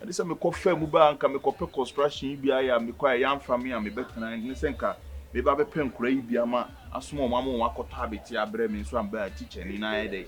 Ɛne sɛ mekɔ faa mu baa nka mekɔ pɛ construction yi bi ayɛ a mekɔ a yɛanfa me a mebɛtena ɛne sɛ nka meba bɛpɛ nkora yi bi ama asoma wɔn ama wɔn akɔtɔ abɛte abrɛ me nso amba a teacher ni na ayɛ dɛ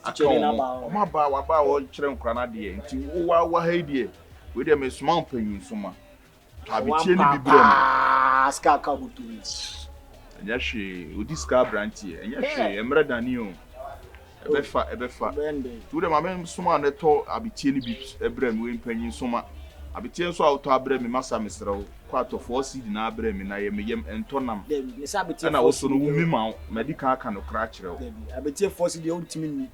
aka wɔn wɔn aba waba a wɔkyerɛ nkora no adeɛ nti wo wa waha yi deɛ wei deɛ mesoma wo panyin soma Abetie no bi brɛ me. Ɛnyɛ hwee, odi sika abranteɛ. Ɛnyɛ hwee, ɛmmerɛ dane o. Ɛbɛfa, ɛbɛfa. Nti wode ma me nsoma a na tɔ abetie no bi brɛ me, wei mpanyin nsoma. Abetie nso a wotɔ abrɛ me masa mesrɛ wo, kɔ atɔ four cedi no ara brɛ me na yɛ me yam ɛntɔ nam. Ɛna wo so no wo me ma wo, madi kan aka nokora akyerɛ wo. Dabi, abetie four cedi deɛ wontumi nni.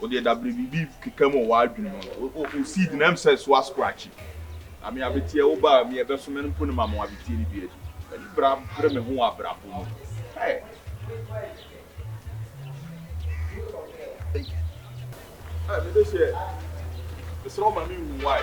Wo deɛ da bere biribi keka mu wɔ w'adwene mu no, wo wo seed no ɛm sɛ so ascratchy. Ame abeteɛ wo ba a me ɛbɛso me no mpo ne ma mo abeteɛ no bi adi. M'ani bra bere me ho wɔ abrabɔ mu. Hey! Hey, me de hyɛ. Mesrɛ wo ma me nwu why?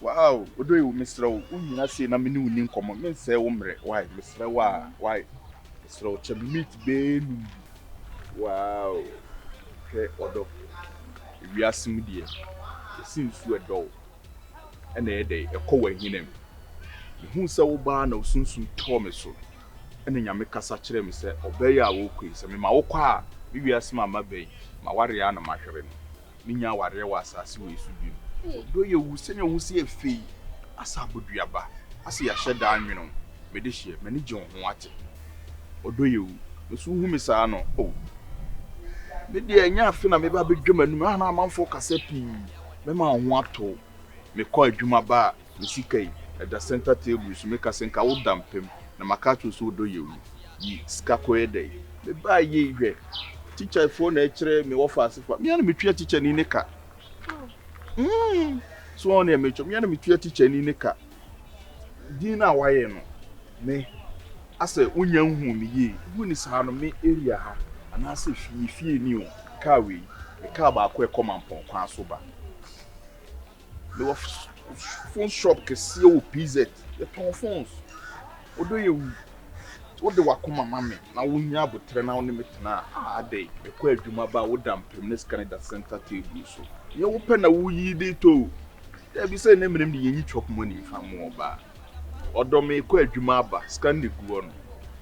Wow Odoyewu mesrɛ wo wo nyina sei na me ne wo ni nkɔmmɔ me nsɛe wo mmerɛ wai mesrɛ wo aa wai mesrɛ wo kyɛ me meat bɛɛ num bi wow hwɛ ɔdɔ ewiase mu deɛ ɛsi nsu ɛdɔ wo ɛna ɛyɛ dɛn ɛkɔ wɔ ahina mu mehuu sɛ wo baa na wo sunsum tɔɔ me so ɛna nyame kasa kyerɛ me sɛ ɔbɛ yi a wo rekɔ yi sɛ me ma wo kɔ a me wiase ma ma bɛn ma ware a na mahwere no. menya awareɛ wɔ asase wei so bio. Ɔdɔ yɛ wu sɛnea wo si yɛ fɛ yi, asɛ aboduaba, asɛ yɛahyɛ da anwene wo, me de hyeɛ, m'ani gye wo ho wate. Ɔdɔ yɛ wu, me so wohu me saa no oh. Me deɛ ɛnyɛ afe na meba abɛdwa m'anum, a na amanfoɔ kasa pii, mɛma wo ho ato wo, mekɔ adwuma ba a, Me sika yi, ɛda center table so, meka sɛ nka wo da mpem, na maka akyerɛ wo sɛ wo dɔ yɛ wu. Yi sika kɔ yɛ dɛn? Me baa yei hwɛ, teacher foɔ na ɛkyerɛ me wɔfaase fa, me ara na me tua teacher ni ne ka. Mm, so wɔn deɛ me kyɛ, me ara na me tua teacher ni ne ka. Din na wayɛ no, me, asɛ wo nya nhu ne yie, wo ni saa no, me area ha, anaasɛ fie, fie ni o, car wei, me car baako ɛkɔ Mampɔn kwan so ba. Mewɔ phone shop kɛseɛ wɔ PZ. Yɛtɔn phones. Wodɔ yɛ wu. Wode wakoma ma me na wonya abotrɛ na wone me tena a, ah adɛn? Mekɔ adwuma ba a woda mpem ne sika no da center table so. Nyɛ wopɛ na woyi de tɔ o. Dabi sɛ ne menem de yɛnyi chop money mfa mmoa ɔbaa. Ɔdɔ mekɔ adwuma aba, sika no na ɛgu hɔ no.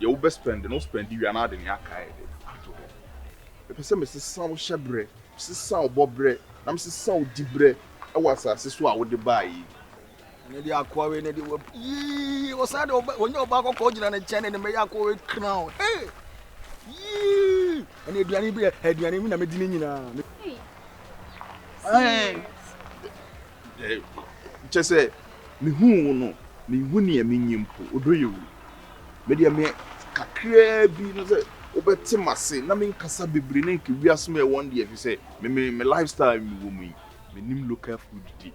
Deɛ wobɛ spend no wo spend wie a na wode nea aka ayɛ dɛ? Ato hɔ. Mepɛ sɛ mesesa wo hyɛbrɛ. Sesaw bɔberɛ na mesesaw diberɛ wɔ asase so a wode baeɛ yi. Ɛno deɛ akoa wei no deɛ wap yii ɔsan de ɔba wɔnyɛ ɔbaa kɔkɔɔ gyina ne nkyɛn ne ne mɛyɛ akoa wei crown hey yii ɛna aduane bi aduane bi na medi ne nyinaa kyɛ sɛ mehu wo no mehu nea menyi mpo ɔdɔ yɛ wu Me deɛ me kakraa bi na sɛ wobɛte m'ase na menkasa bebree na nka wiase mu ɛwɔ deɛ ɛfisɛ me me me life style me wɔ mu yi menim local food di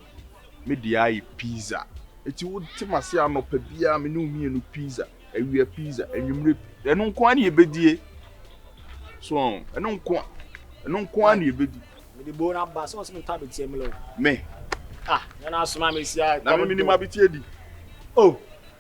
me deɛ ara yɛ pizza eti wote m'ase anɔpa biara me ne wo mmienu pizza awia pizza anwummerɛ ɛno nko ara na yɛbɛdie so ɛno nko ɛno nko ara na yɛbɛdi. Me de boo na ba sɛ ɔsɛ me tɔ abeteɛ mele o. Me. Ah yɛn asoma me si a. Na me menim abeteɛ di. Oh.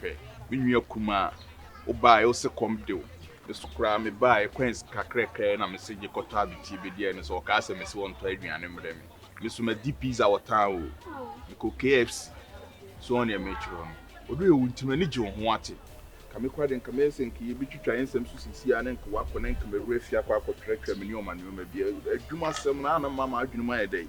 Hwɛ, me nua kumaa, wobaeɛ, wose kɔm de wo, me nso koraa mebaeɛ, kwan sika krɛkrɛ na mese gye kɔtɔ abetie bɛdi ɛno nso wɔkaa sɛ mese wɔntɔ aduane mmrɛ me, me nso madi pizza wɔ town o, mekɔ KFC, so wɔn deɛ meretwerɛ no, ɔdɔ yɛ wo nti m'ani gye wo ho wate. Nka mekɔ a deɛ nka mɛyɛ sɛ nka yɛbɛtwitwa yɛn nsɛm so seesei ara na nka wakɔ na nka mawura fie akɔ akɔtwerɛtwerɛ me nneɛma nneɛma bi, adwuma asɛm no a na mma m'adwene mu ayɛ dɛ yi.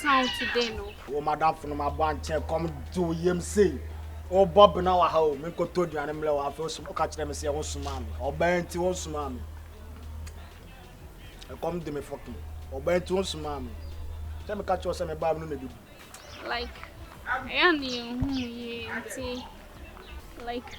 town today no. Wo madamfo no ma bɔ ankyɛ kɔm de wo yam sei. O Bob na waha o, menkɔtɔ aduane mmerɛ wo afei osom ɔka kyerɛ me sɛ wo nsomaa me. Ɔbaa nti wo nsomaa me. Ɛkɔm de me fɔkin. Ɔbaa nti wo nsomaa me. Sɛ meka kyerɛ wo sɛ mebaa me no na ɛbɛbu. Like, ɛyɛ ne yɛn hu yie nti like.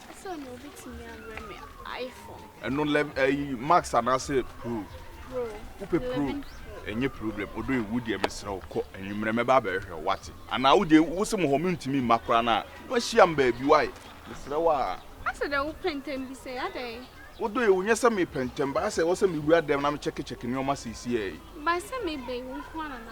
Sɛ na obi tumi abrɛ me iPhone. Ɛno lɛ ɛyi eh, Max anaasɛ Pro. Pro. Wopɛ Pro. Ɛnyɛ problem odo ewu deɛ mesrɛ wo kɔ anwummerɛ mɛba abɛhwɛ wate anaa wode wose mo hɔ mentumi mma koraa no a na wahyia m baabi wae mesrɛ wo a. Asɛ dɛ wo pɛntɛm bi sɛ adɛn. Wodɔ ewu nyɛ sɛ mepɛntɛm ba asɛ wɔ sɛ mewura dɛm na mekyɛkekyɛke nneɛma seesiɛ yi. Ba sɛ meba yi wo nko ara na na